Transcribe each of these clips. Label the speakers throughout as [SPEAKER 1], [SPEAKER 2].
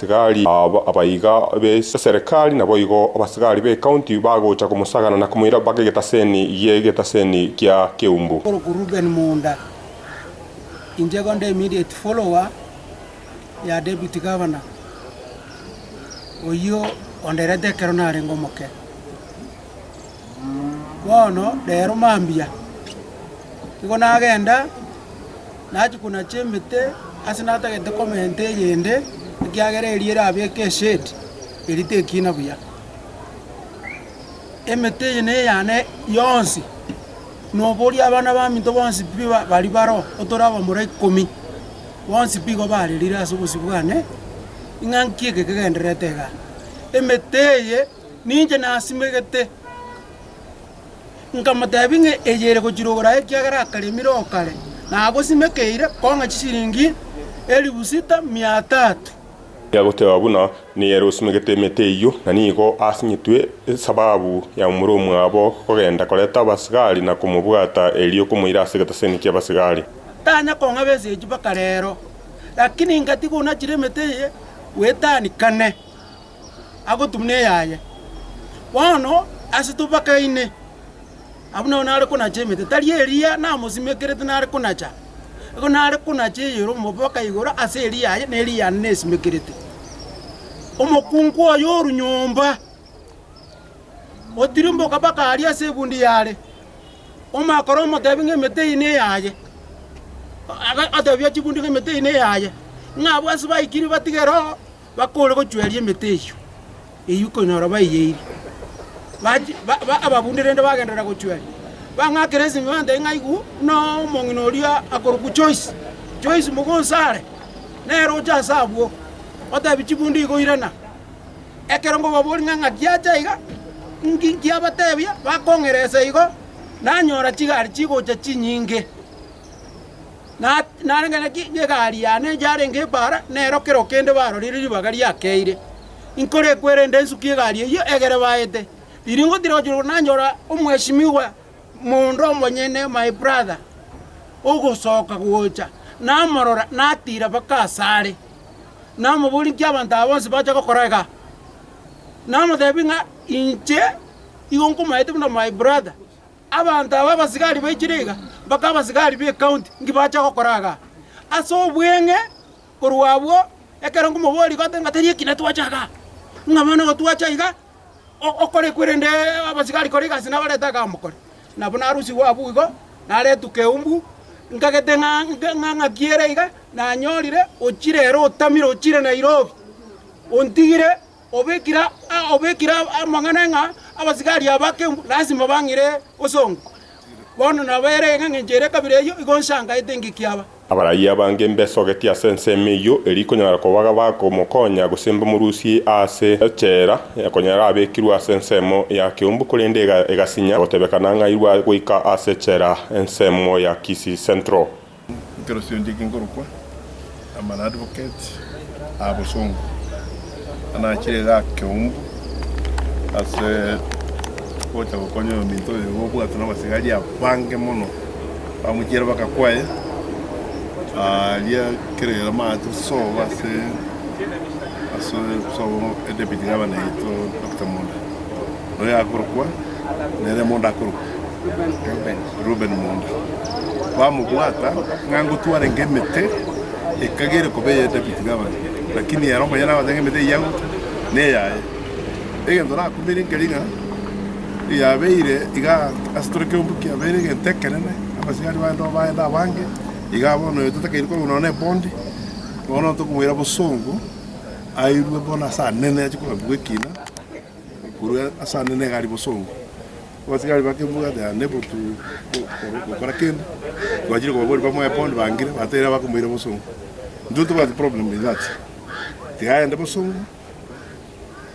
[SPEAKER 1] Tigali aba abaiga b'eserikari naboigo abasigari b'ecounty bagocha komosagana na komoira mpaka egetaseni y'egetaseni gia Keumbu. Oruko Reuben Munda,
[SPEAKER 2] Inche igo nde immediate follower ya Deputy Governor oyio onderete ekero narenge omoke. Bono rero mambia, igo nagenda. na chikuna chi'emete ase natagete komenta eyende, ekiagera eria erabeke eshedi eria tekina buya. Emete eye neyane yonsi, noboria abana baminto bonsi pi baria baro, otore abamura ikomi, bonsi pi igo barerire ase obosio bwane, ing'a nki eke kegendererete igaa. Emete eye ninche nasimegete. Nkamoteebia ng'a eye ere gochirogora ekiagera akaremire o kare, na agosimekeire kong'a chisiringi elifu sita mia tatu. Yagoteeba buna
[SPEAKER 1] nigo ere osimegete emete eyio, na nigo asinyetwe esababu ya momura omwabo kogenda koreta abasigari na komobwata erio komoira ase egetaseni ki'abasigari. Tanya kong'a
[SPEAKER 2] besechi mpaka reero, lakini ngatiga onachire emete eye bw'etani kane. agotumuna eyaye. Bono ase tobakaine, abwo nao nare konacha emete, tari Eliya namosimekerete nare konacha, igo nare konacha eyere omobaka igoro ase Eliya aye, na Eliya yane nesimekerete. Omokungu oye o ronyomba otirimboka mpaka aria ase ebundi yare, omakore omotebi ng'a emete eye neyaye, otebia chibundi ng'a emete eye neyaye, ng'a abwo ase baikire batige roo. bakore gochweria emete eyio, eyio konyora baiyeirie. Ababunde rende bagenderera gochweria, bang'akera esimanta eria ng'ai igwo, buna omong'ina oria akorokwa Joyce, Joyce Mugonsare, nere ocha ase abwo, otebia chibunde igo irana. Ekero nkobaboria ng'a ng'aki acha iga, inki nkiabatebia, bakong'eresa igo, nanyora chigari chigocha chinyinge. narenge naki egari yane yarenge ebaara, nero kero kende barorire ribaga riakeire. Inkorekwerende nsukie egari eyio egere baete. Riria ngotira gochia igoro nanyora omweshimiwa mondo omonyene, my brother, ogosoka gocha. Namorora natira mpaka asare, namoboria inki abanto aba bonsi bacha gokora igaa. Namotebia ng'a inche igo nkomaete buna my brother. Abanto aba abasigari baikire iga, mpaka abasigari b'ecounty inki bacha gokora iga? Ase obweng'e korwa abwo, ekero nkomoboria iga oteba ng'a tari ekina twacha iga, ng'a bono igo twacha iga, o- okore kwerende abasigari kore egasi nabarete iga mokore. Nabo narusigwe abwo igo, naretwa Keumbu, nkagete ng'a nke- ng'a- ng'aki ere iga, nanyorire ochire ere otamire ochire Nairobi, ontigire. obekire obekire amang'ana ng'a abasigari aba kembu lasima bang'ire bosongo. Bono nabo ere engencho ere ekabira eyio igo nsangaete engeki aba. Abaraiyo abange
[SPEAKER 1] mbesogetie ase ensemo eyio erio ikonyara kobaga bakomokonya, gose mbamorusie ase echela, konya arabekirwe ase ensemo ya keumbu korende egasinya, gotebekana ng'airwe goika ase echela ensemo ya Kisii Central. Ekerosio eria
[SPEAKER 3] kingorokwa Amana Advocate aa bosongo, anachire iga akeumbu ase gocha gokonya oyominto oyo iga obwatwe na abasigari abange mono bamochiere baka kwaye aria kere amate sobo ase ase sobo Deputy Governor yaito Doctor Monda. Noyo akorokwa nere mondo akorokwa Reubeni mondo. Bamobwata ng'a ngotwarenge emete ekagere koba eye David gavana, lakini ere omonyene agote ng'a emete eyio agote neyaye. Egento nakumire nkeri ng'a yabeire iga ase tore ekeombe kiabeire egento ekenene, abasigari baye nabo baende abange, igaa bono oyo totakeiri korwa nonya na ebondi, bono tokomoira bosongo airwe bono ase anene ache kogambigwa ekina. Korwa ase ande negari bosongo. Abasigari bakebua ati, Aa nebo togokora kende, twachire kobaboria bamoe bondo bangire, batebire abakomoira bosongo. Intwe tobwati problem in that. Tiga agende bosongo,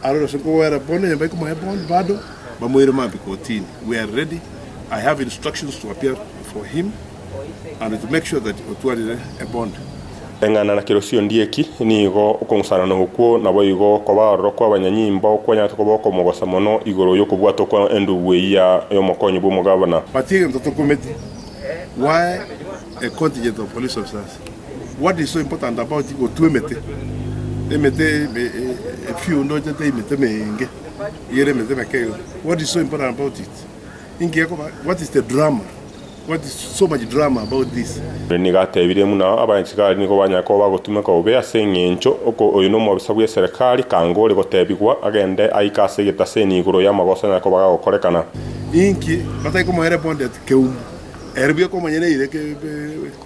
[SPEAKER 3] arore ase kogwera bono eyomba ekomoe bondo bado, bamoire maambia kotini. We are ready, I have instructions to appear for him. Eng'ana na
[SPEAKER 1] kerosio ndie eki, nigo okong'usanana okwo naboigo okoba aroro kw'abanyanyimbo kwanyarete koba okomogosa mono igoro y'okobwata okwo endubu eyia y'omokonyi
[SPEAKER 3] bw'omogabana. Ere nigo atebirie buna
[SPEAKER 1] abaisraeli nigo banyare koba bagotumeka bobe ase engencho oko oyo nomobisa bw'eserekari, kanga ore gotebigwa agende aike ase egetaseni igoro y'amagoso anyare koba gagokorekana. Inki
[SPEAKER 3] batari komoereponteti keumu, erio biokomonyene eire?